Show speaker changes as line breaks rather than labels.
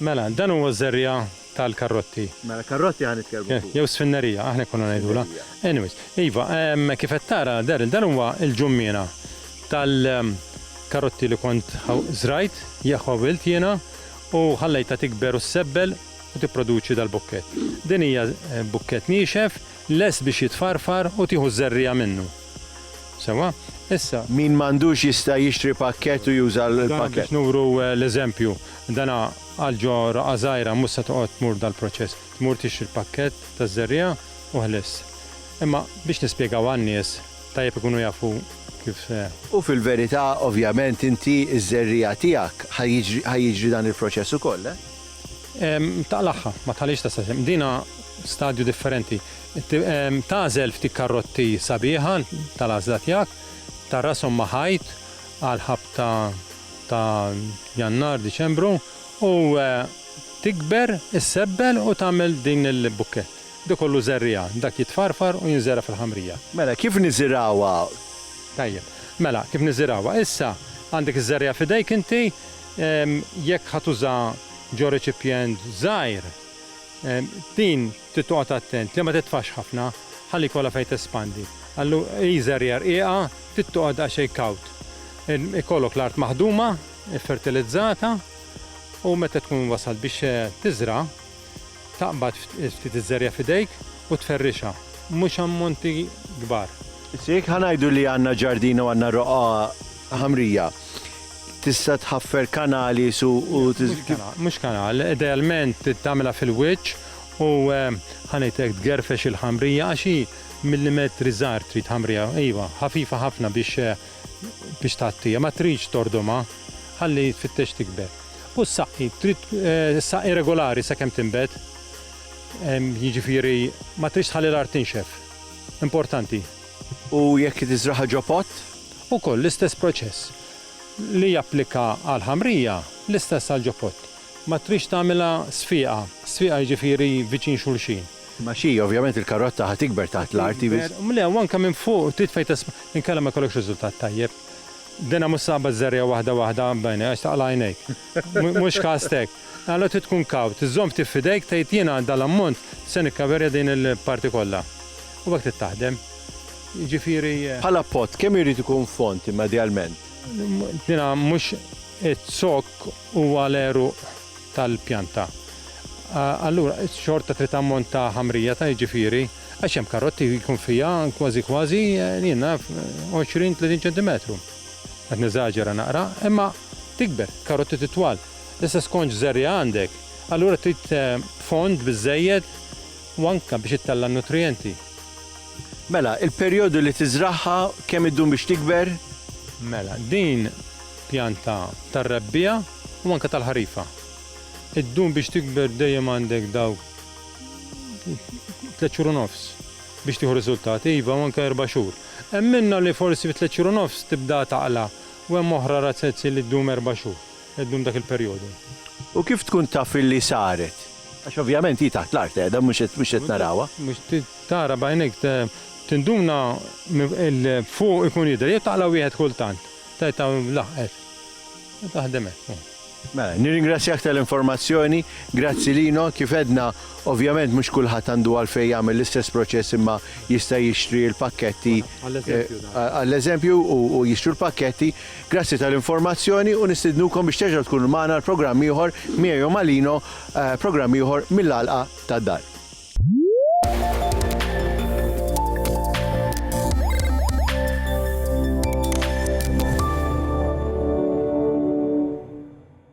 Mela, dan huwa
ż-żerriegħa tal-karrotti. Mela, karrotti ħa
nitkellmu fuqhom. Jew sfinnerija, aħna konna
ngħidulha. Anyways, iva, kif qed tara, Daryl, dan huwa l-ġummiena tal-karrotti li kont żrajt, jew ħawilt jiena, u ħallejtha tikber u ssebbel u tipproduċi dal-bukkett. Din hija bukkett niexef, lest biex jitfarfar u tieħu ż-żerriegħa minnu. Sewwa, issa. Min m'għandux jista'
jixtri pakkett u juża l-pakkett. Dan biex nuru
l-eżempju. Dana għal ġo roqgħa żgħira mhux se toqgħod tmur dal-proċess. Tmur tixtri l-pakkett taż-żerriegħa u ħliss. Imma biex nispjegaw għan-nies, tajjeb ikunu jafu kif se. U fil-verità,
ovvjament, inti ż-żerriegħa tiegħek ħa jiġri ħa jiġri dan il-proċess ukoll, eh?
Taqlagħha, ma tħallihiex tasal xejn. Dina stadju differenti. Tagħżel ftit karotti sabiħa tal-għażla tiegħek, tgħarrashom ma' ħajt għall-ħabta ta' Jannar, Diċembru u tikber, issebbel u tagħmel din il-bukkett. Dik kollu żerriegħa, dak jitfarfar u jinżera' fil-ħamrija. Mela, kif niżirgħuha?
Tajjeb.
Mela, kif niżirgħuha? Issa, għandek iż-żerriegħa f'idejk inti, jekk ħa tuża ġo reċipjent żgħir, Din trid toqgħod attent li ma titfax ħafna ħalli jkollha fejn tespandi. Allu hi żerriegħa rqiqa, trid toqgħod daqsxejn kawt. Ikollok l-art maħduma, iffertilizzata u meta tkun wasalt biex tiżra' taqbad ftit iż-żerriegħa f'idejk u tferrixha, mhux ammonti kbar. Issa jekk ħa
ngħidu li għandna ġardina u għandna roqgħa ħamrija, Tista' tħaffer kanali su u tiż.
Mhux kanal, idealment tagħmilha fil-wiċċ u ħa ngħid hekk tgerfex il-ħamrija għax hi millimetri żgħar trid ħamrija, iva, ħafifa ħafna biex biex tgħattiha, ma tridx tordumha, ħalli tfittex tikber. U ssaqqi, trid ssaqqi regolari sakemm tinbet, jiġifieri ma tridx tħalli l-art tinxef, importanti. U
jekk tiżragħha ġo pott? Ukoll l-istess
proċess. li japplika għall-ħamrija, l-istess għall-ġopot. Ma tridx tagħmilha sfiqa, sfiqa jiġifieri viċin xulxin. Imma xi, ovvjament
il-karotta ħa tikber taħt l-art. Le, u anke minn fuq
trid fejn tesp. Inkella ma jkollokx riżultat tajjeb. Dinha mhux saba żżerriha waħda waħda b'għajnejk għax taqla' għajnejk. Mhux kast hekk. Għala trid tkun kawt, żżomm ftit f'idejk, tgħid jiena għal dan l-ammont se nikkaverja din il-parti kollha. U hekk trid taħdem. Jiġifieri. Bħala pot,
kemm irid ikun fond immedjalment? Jiena
mhux iz-zokk huwa l-għeruq tal-pjanta. Allura xorta trid ammont ta' ħamrija ta' jiġifieri, għax hemm karotti li jkun fiha kważi kważi, jien naf, 20, 30 ċentimetru. Qed neżaġera naqra, imma tikber, karotti titwal. l-istess konċ żerriegħa għandek, allura trid fond biżżejjed u anke biex ittella' n-nutrijenti.
Mela, il-perjodu li tiżragħha, kemm iddum biex tikber? Mela,
din pjanta tar-Rebbiegħa u anke tal-Ħarifa. Iddum biex tikber dejjem għandek dawk tliet xhur u nofs biex tieħu riżultat, iva u anke erba' xhur. Hemm minnha li forsi fi tliet xhur u nofs tibda taqla' u hemm oħra razzezzi li ddum erba' xhur. qed ddum dak il-perjodu. U kif tkun
taf illi saret? Għax ovvjament hi taħt l-art qiegħda mhux qed narawha. Mhux tara
b'għajnejk, tinduna fuq ikun jidher jew taqla' wieħed kultant, tgħid hawn laħqet. Taħdem hekk hu. Mela, nirringrazzjak
tal-informazzjoni, grazzi Lino, kif għedna ovvjament mhux kulħadd għandu għalfejn jagħmel l-istess proċess imma jista' jixtri l-pakketti għall-eżempju u jixtru l-pakketti Grazzi tal-informazzjoni u nistidnukom biex terġgħu tkunu magħna għal programm ieħor miegħi u ma' Lino, programm ieħor mill-Għalqa tad-Dar.